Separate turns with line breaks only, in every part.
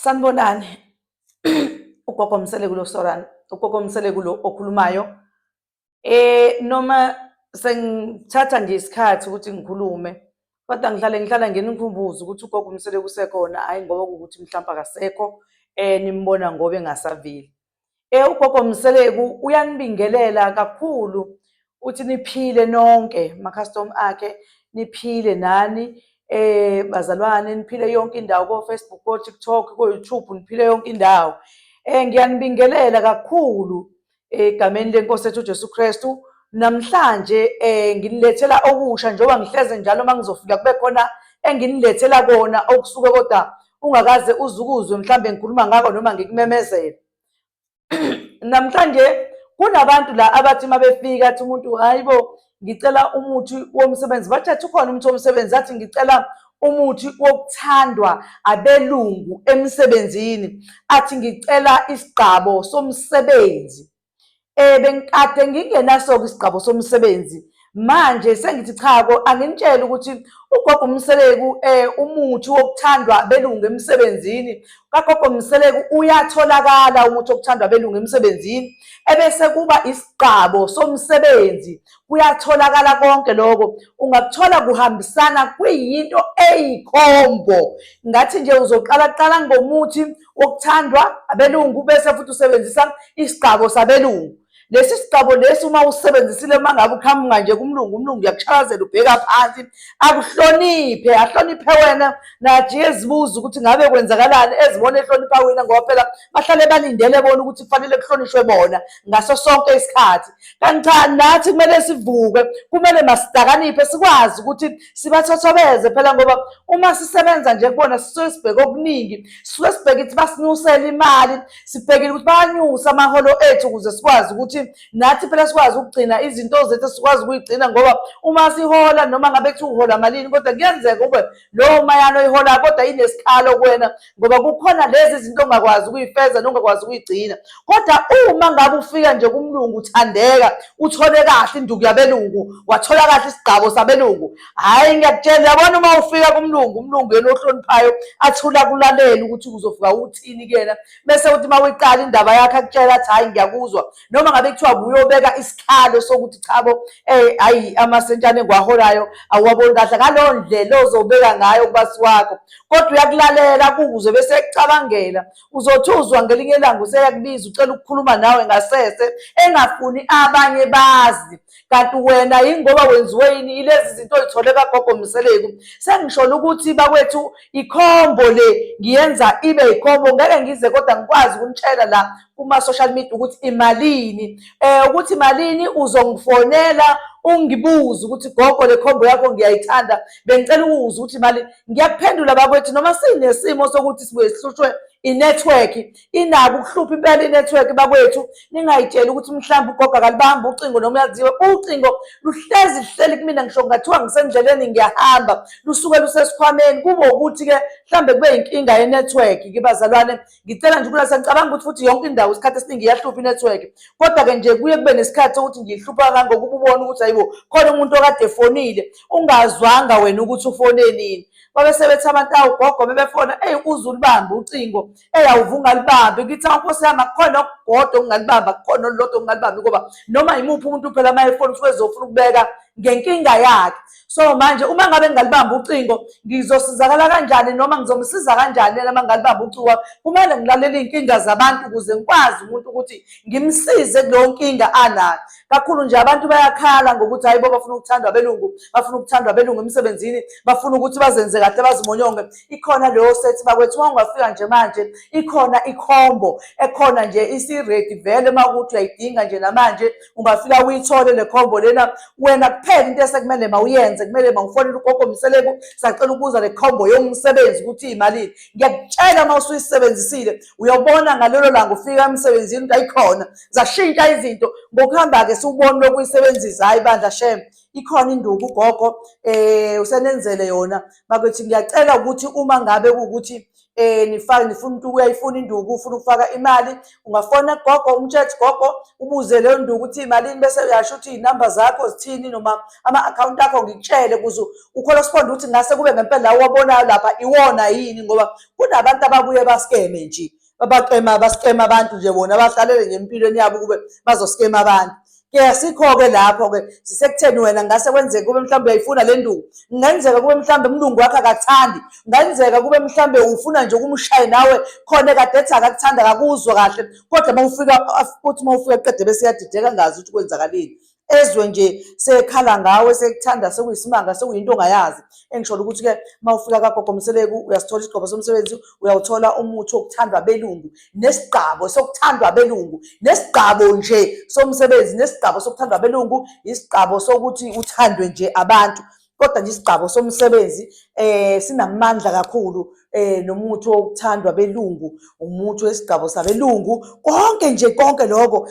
Sanibonani. Ugogo Msele kulo Soran, ugogo Msele kulo okhulumayo. Eh noma sengithatha nje isikhathi ukuthi ngikhulume kodwa ngihlale ngihlala ngenikhumbuza ukuthi ugogo Msele kusekhona hayi ngoba ukuthi mhlawumbe akasekho eh nimbona ngoba engasaveli. Eh ugogo Mseleku uyanibingelela kakhulu uthi niphile nonke makhastom akhe niphile nani eh bazalwane niphile yonke indawo ko Facebook ko TikTok ko YouTube niphile yonke indawo eh ngiyanibingelela kakhulu egameni lenkosi ethu Jesu Kristu namhlanje eh nginilethela okusha njengoba ngihleze njalo mangizofika kube khona enginilethela kona okusuke kodwa ungakaze uzukuzwe mhlawumbe ngikhuluma ngako noma ngikumemezela namhlanje kunabantu la abathi uma befika athi umuntu hayi bo ngicela umuthi womsebenzi bathi athi ukhona umuthi womsebenzi athi ngicela umuthi wokuthandwa abelungu emsebenzini athi ngicela isigqabo somsebenzi Eh bengikade ngingenasoke isigqabo somsebenzi. Manje sengithi cha ko anginitshela ukuthi ugogo Mseleku eh umuthi wokuthandwa belungu emsebenzini. Kagogo Mseleku uyatholakala umuthi wokuthandwa belungu emsebenzini ebese kuba isigqabo somsebenzi. Kuyatholakala konke lokho. Ungakuthola kuhambisana kuyinto eyikhombo. Ngathi nje uzoqala qala ngomuthi okuthandwa abelungu bese futhi usebenzisa isigqabo sabelungu lesi sigqabo lesi uma usebenzisile uma ngabe uqhamuka nje kumlungu umlungu uyakushakazela ubheka phansi akuhloniphe ahloniphe wena nathi ezibuza ukuthi ngabe kwenzakalani ezibona ehlonipha wena ngoba phela bahlale balindele bona ukuthi kufanele kuhlonishwe bona ngaso sonke isikhathi kanti cha nathi kumele sivuke kumele masidakaniphe sikwazi ukuthi sibathothobeze phela ngoba uma sisebenza nje kubona sisuke sibheke okuningi sisuke sibheke ukuthi basinyusela imali sibhekile ukuthi bayanyusa amaholo ethu ukuze sikwazi ukuthi nathi phela sikwazi ukugcina izinto zethu sikwazi ukuyigcina ngoba uma sihola noma ngabe kuthi uhola malini kodwa kuyenzeka ube lowo mayana oyihola kodwa inesikhalo kuwena ngoba kukhona lezi zinto ongakwazi ukuyifeza nongakwazi ukuyigcina kodwa uma ngabe ufika nje kumlungu uthandeka uthole kahle induku yabelungu wathola kahle isigqabo sabelungu hhayi ngiyakutshela yabona uma ufika kumlungu umlungu yena ohloniphayo athula kulalele ukuthi uzofika uthini kuyena bese uthi uma uyiqala indaba yakhe akutshela athi hhayi ngiyakuzwa noma ngabe kuthiwa kuyobeka isikhalo sokuthi chabo eh hayi amasentshane engiwaholayo awuwaboni kahle ngaleyo ndlela ozobeka ngayo kubasi wakho kodwa uyakulalela kuze bese ekucabangela uzothi uzwa ngelinye ilanga useyakubiza ucela ukukhuluma nawe ngasese engafuni abanye bazi kanti wena yingoba wenziwe yini ilezi zinto oyithole kagogo mseleku sengisholo ukuthi bakwethu ikhombo le ngiyenza ibe ikhombo ngeke ngize kodwa ngikwazi ukunitshela la kuma-social media ukuthi imalini um ukuthi malini uzongifonela ungibuze ukuthi gogo le khombo yakho ngiyayithanda bengicela ukuwuza ukuthi mali ngiyakuphendula bakwethu noma sinesimo sokuthi sibuye sihlushwe i-network inako ukuhlupha impela i-network bakwethu ningayitsheli ukuthi mhlawumbe ugogo akalibambi ucingo noma uyaziwe ucingo luhlezi luhleli kumina ngisho kungathiwa ngisendleleni ngiyahamba lusuke lusesikhwameni kube ukuthi-ke mhlawumbe kube yinkinga ye-network kibazalwane ngicela nje ukulala sengicabanga ukuthi futhi yonke indawo isikhathi esiningi iyahlupha inetwork kodwa-ke nje kuye kube nesikhathi ukuthi ngiyihlupha kangangokuba ubone ukuthi hayibo khona umuntu okade efonile ungazwanga wena ukuthi ufone nini babe sebethi abantu awugogo bebefona eyi uze ulibambe ucingo eyi awuve ungalibambi ngithi awunkosi yami akukhona okugodo okungalibamba kukhona olulodwa okungalibambi ngoba noma yimuphi umuntu phela uma efona usuke ezofuna ukubeka ngenkinga yakhe so manje uma ngabe ngingalibamba ucingo ngizosizakala kanjani noma ngizomsiza kanjani yena uma ngingalibamba ucingo wami kumele ngilalele iy'nkinga zabantu ukuze ngikwazi umuntu ukuthi ngimsize kuleyo nkinga anayo kakhulu nje abantu bayakhala ngokuthi hayi bo bafuna ukuthandwa abelungu bafuna ukuthandwa abelungu emsebenzini bafuna ukuthi bazenze kahle bazimonyonge ikhona leyo sethi bakwethu uma ungafika nje manje ikhona ikhombo ekhona nje isiredi vele uma ukuthi uyayidinga nje namanje ungafika uyithole le combo lena wena kuphela into esekumele mawuyenze kumele mawufonele ugogo mseleku sacela ukuza le combo yomsebenzi ukuthi imalini ngiyakutshela uma usuyisebenzisile uyobona ngalelo langa ufika emsebenzini into ayikhona zashintsha izinto ngokuhamba-ke siwuboni lokuyisebenzisa hhayi bandla shem ikhona induku ugogo um usenenzele yona bakwethu ngiyacela ukuthi uma ngabe kuwukuthi eh nifake nifuna umuntu uyayifuna induku ufuna ukufaka imali ungafona gogo umtsheth gogo ubuze leyo nduku ukuthi imalini bese uyasho ukuthi inamba zakho zithini noma ama account akho ngikutshele kuze ucorrespond ukuthi ngase kube ngempela lawo wabonayo lapha iwona yini ngoba kunabantu ababuye baskeme nje babaxema baskema abantu nje bona bahlalele nje empilweni yabo kube bazoskema abantu ke sikho-ke lapho-ke sisekutheni wena ngase kwenzeka kube mhlawumbe uyayifuna le nduku kungenzeka kube mhlawumbe umlungu wakho akakuthandi kungenzeka kube mhlawumbe ufuna nje ukumshaye nawe khona ekade ethi akakuthanda akakuzwa kahle kodwa uma ufika uthi uma ufika qede bese yadideka ngazi ukuthi kwenzakaleni ezwe nje sekhala ngawe sekuthanda sekuyisimanga sekuyinto ongayazi engisholo ukuthi-ke uma ufika kagogo mseleku uyasithola isigqobo somsebenzi uyawuthola umuthi wokuthandwa belungu nesigqabo sokuthandwa abelungu nesigqabo nje somsebenzi nesigqabo sokuthandwa abelungu isigqabo sokuthi uthandwe nje abantu kodwa nje isigqabo somsebenzi eh sinamandla kakhulu eh nomuntu okuthandwa belungu umuntu wesigqabo sabelungu konke nje konke lokho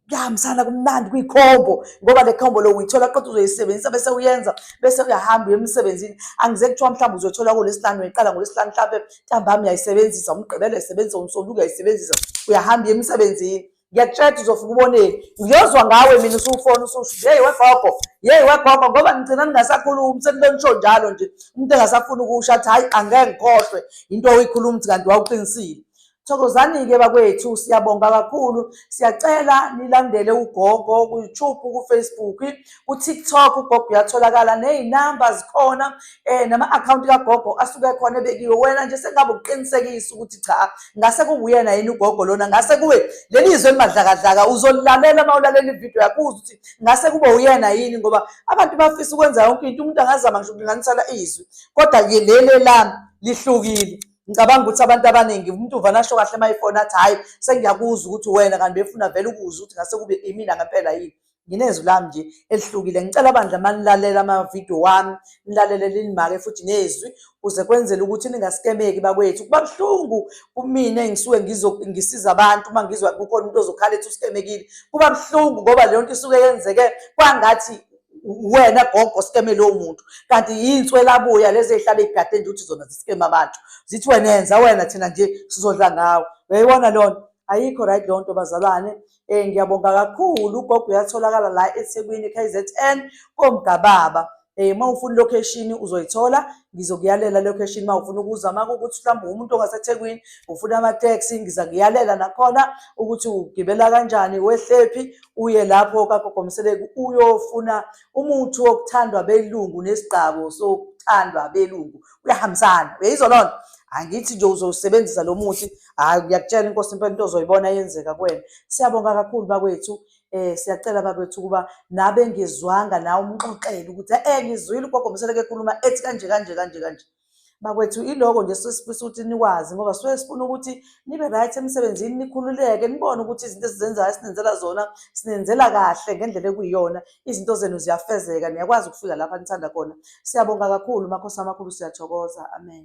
kuyahambisana kumnandi kwikhombo ngoba le khombo lo uyithola kodwa uzoyisebenzisa bese uyenza bese uyahamba uye emsebenzini angize kuthiwa mhlawumbe uzothola ngolwesihlanu uyiqala ngolwesihlanu mhlawumbe ntambami uyayisebenzisa umgqibelo uyayisebenzisa umsombuluko uyayisebenzisa uyahamba uye emsebenzini ngiyakutshela uzofika uboneni ngiyozwa ngawe mina usufona ususho yeyi wegogo yeyi wegogo ngoba ngigcina ningasakhulumi senibenisho njalo nje umuntu engasafuni ukusho athi hhayi angeke ngikhohlwe into oyikhuluma ukuthi kanti wawuqinisile Thokozani-ke bakwethu, siyabonga kakhulu. Siyacela nilandele ugogo ku-YouTube, ku-Facebook, ku-TikTok. Ugogo uyatholakala nezinamba zikhona eh nama-akhawunti kagogo asuke khona ebekiwe. Wena nje sengabe ukuqinisekisa ukuthi cha ngase kuwuyena yini ugogo lona, ngase kuwe leli zwe elimadlakadlaka uzolilalela uma ulalela ividiyo yakho uze ukuthi ngase kube uyena yini, ngoba abantu bafisa ukwenza yonke into. Umuntu angazama ngisho ukulinganisela izwi, kodwa-ke leli lami lihlukile. ngicabanga ukuthi abantu abaningi umuntu uvana asho kahle uma ifona athi hhayi sengiyakuzwa ukuthi wena kanti befuna vele ukuzwa ukuthi ngase kube imina ngempela yini nginezwi lami nje elihlukile ngicela bandla manilalela amavidiyo wami nilalele linimake futhi nezwi kuze kwenzele ukuthi ningasikemeki bakwethu kuba buhlungu kumina engisuke ngisiza abantu uma ngizwa kukhona umuntu ozokhala ethi usikemekile kuba buhlungu ngoba leyo nto isuke yenzeke kwangathi wena gogo sikeme lowo muntu kanti yinswelabuya lezi ezihlala igade nje ukuthi zona zisikeme abantu zithi wena yenza wena thina nje sizodla ngawo uyayibona leyo nto ayikho right leyo nto bazalwane um ngiyabonga kakhulu ugogo uyatholakala la ethekwini k z n komgababa um uma ufuna ilocation uzoyithola ngizokuyalela location uma ufuna ukuza uma kukuthi mhlawumbe umuntu ongasethekwini ufuna amateksi ngiza ngiyalela nakhona ukuthi ugibela kanjani wehlephi uye lapho kagogo Mseleku uyofuna umuthi wokuthandwa belungu nesigqabo sokuthandwa belungu uyahambisana uyayizwa lona angithi nje uzowusebenzisa lo muthi hayi ngiyakutshela inkosi impela into ozoyibona yenzeka kuwena siyabonga kakhulu bakwethu eh siyacela bakwethu ukuba nabe ngizwanga nawe umxoxele ukuthi eh ngizwile ugogo Mseleku ekhuluma ethi kanje kanje kanje kanje Bakwethu iloko nje suke sifisa ukuthi nikwazi ngoba suke sifuna ukuthi nibe right emsebenzini nikhululeke nibone ukuthi izinto esizenzayo sinenzela zona sinenzela kahle ngendlela ekuyiyona izinto zenu ziyafezeka niyakwazi ukufika lapha nithanda khona. Siyabonga kakhulu Makhosi amakhulu siyathokoza. Amen.